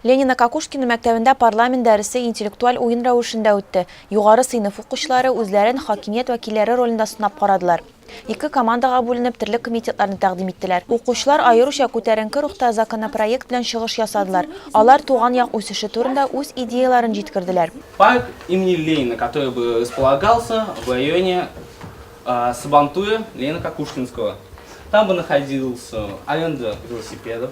Ленино-Кокушкино мәктәбендә парламент дәресе интеллектуаль уен рәвешендә үтте. Югары сыйныф укучылары үзләрен хакимият вәкилләре ролендә сынап карадылар. Ике командага бүленеп, төрле комитетларны тәкъдим иттеләр. Укучылар аеруча күтәренке рухта законопроект белән чыгыш ясадылар. Алар туган як үсеше турында үз идеяләрен җиткерделәр. Парк имени Ленина, который бы располагался в районе Сабантуя Ленина-Кокушкинского. Там бы находился аренда велосипедов.